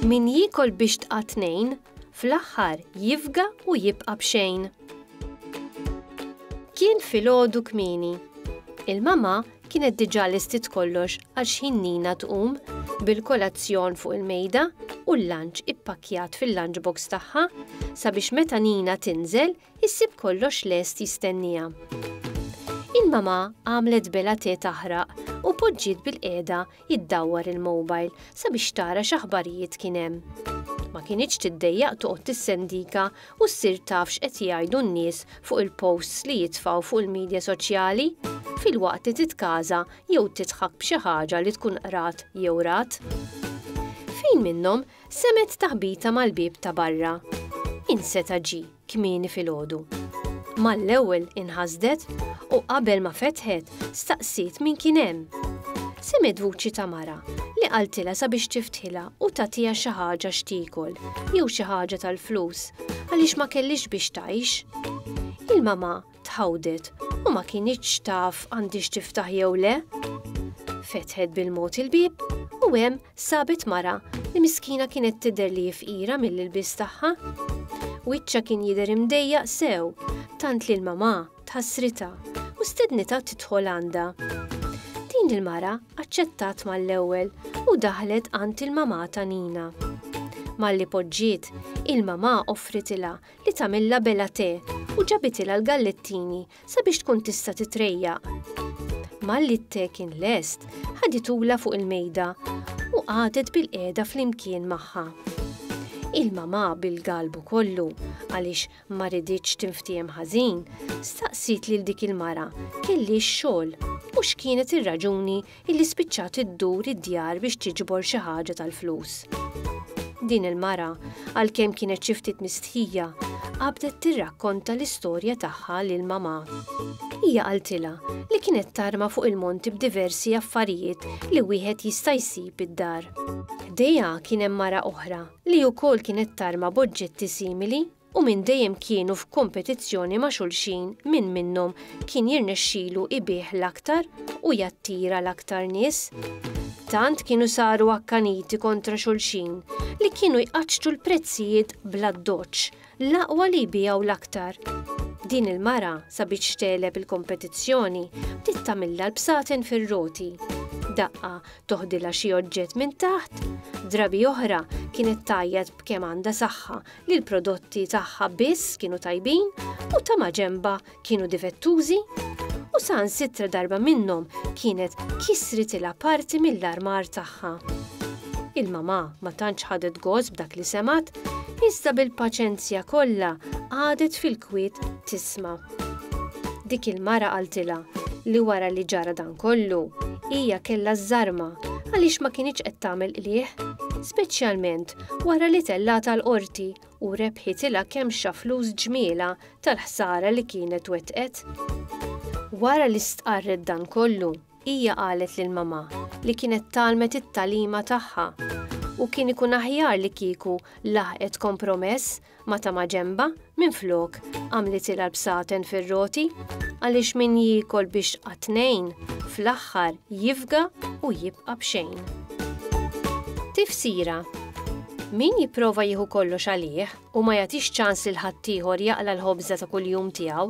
Min jikol biex tqa' tnejn, fl-aħħar jifga u jibqa' b'xejn. Kien filgħodu kmieni. Il-mama Kienet diġà lestiet kollox għal xħin Nina tqum, bil-kolazzjon fuq il-mejda u l-lunch ippakkjat fil-lunch box tagħha, sabiex meta Nina tinżel, issib kollox lest jistenniha. Il-mamà għamlet bela te taħraq u poġġiet bil-qiegħda iddawwar il-mobile sabiex tara x'aħbarijiet kien hemm. Ma kinitx tiddejjaq toqgħod tissendika u ssir taf x'qed jgħidu n-nies fuq il-posts li jitfgħu fuq il-midja soċjali, filwaqt li titkaża jew tidħak b'xi ħaġa li tkun qrat jew rat. Fin minnhom Semgħet taħbita mal-bieb ta' barra. Min seta' ġie kmieni filgħodu? Mal-ewwel inħasdet u qabel ma fetħet staqsiet min kien hemm. Semgħet vuċi ta' mara li qaltilha sabiex tiftħilha u tagħtiha xi ħaġa x'tiekol jew xi ħaġa tal-flus għaliex ma kellhiex biex tgħix. Il-mamà tħawdet u ma kinitx taf għandhiex tiftaħ jew le. Fetħet bil-mod il-bieb u hemm sabet mara li miskina kienet tidher li fqira mill-ilbies tagħha. Wiċċa kien jidher imdejjaq sew, tant li l-mamà tħassritha u stednitha tidħol għandha. Din il-mara aċċettat mal-ewwel u daħlet għand il-mamà ta' Nina. Malli poġġiet, il-mamà offritilha li tagħmilha bella te u ġabitilha l-gallettini sabiex tkun tista' titrejjaq. Malli t-te kien lest, ħaditulha fuq il-mejda u qagħdet bilqiegħda flimkien magħha. Il-mamà bil-galbu kollu, għaliex ma riditx tinftiehem ħażin, staqsiet lil dik il-mara kelliex xogħol u x'kienet ir-raġuni illi spiċċat iddur id-djar biex tiġbor xi ħaġa tal-flus. Din il-mara, għalkemm kienet xi ftit mistħija, qabdet tirrakkonta l-istorja tagħha lil mamà. Hija qaltilha li kienet tarma fuq il-monti b'diversi affarijiet li wieħed jista' jsib id-dar. Ħdejha kien hemm mara oħra li wkoll kienet tarma b'oġġetti simili u minn dejjem kienu f'kompetizzjoni ma' xulxin min minnhom kien jirnexxilu ibigħ l-aktar u jattira l-aktar nies. Tant kienu saru akkaniti kontra xulxin li kienu jqaċċtu l-prezzijiet bl-addoċċ, l-aqwa li jbiegħu l-aktar. Din il-mara, sabiex tegħleb il-kompetizzjoni, bdiet tagħmilha l-bsaten fir-roti. Daqqa toħdilha xi oġġett minn taħt, drabi oħra kienet tgħajjat b'kemm għandha saħħa li l-prodotti tagħha biss kienu tajbin u ta' maġenbha kienu difettużi u saħansitra darba minnhom kienet kisritilha parti mill-armar tagħha. Il-mamà ma tantx ħadet gost b'dak li semgħet, iżda bil-paċenzja kollha qagħdet fil-kwiet tisma'. Dik il-mara qaltilha li wara li ġara dan kollu, hija kellha żżarma għaliex ma kinitx qed tagħmel qligħ, speċjalment Wara li tellata l-Qorti u rebħitilha kemxa flus ġmielha tal-ħsara li kienet wettqet. Wara li stqarret dan kollu, hija qalet lil mamà li kienet tgħallmet it-tagħlima tagħha u kien ikun aħjar li kieku laħqet kompromess ma ta' ma' ġenbha, minflok, għamlitilha l-bsaten fir-roti, għaliex min jiekol bixqa tnejn, fl-aħħar jifga u jibqa' b'xejn. Tifsira, Min jipprova jieħu kollox għalih u ma jagħtix ċans lil ħaddieħor jaqla' l-ħobża ta' kuljum tiegħu,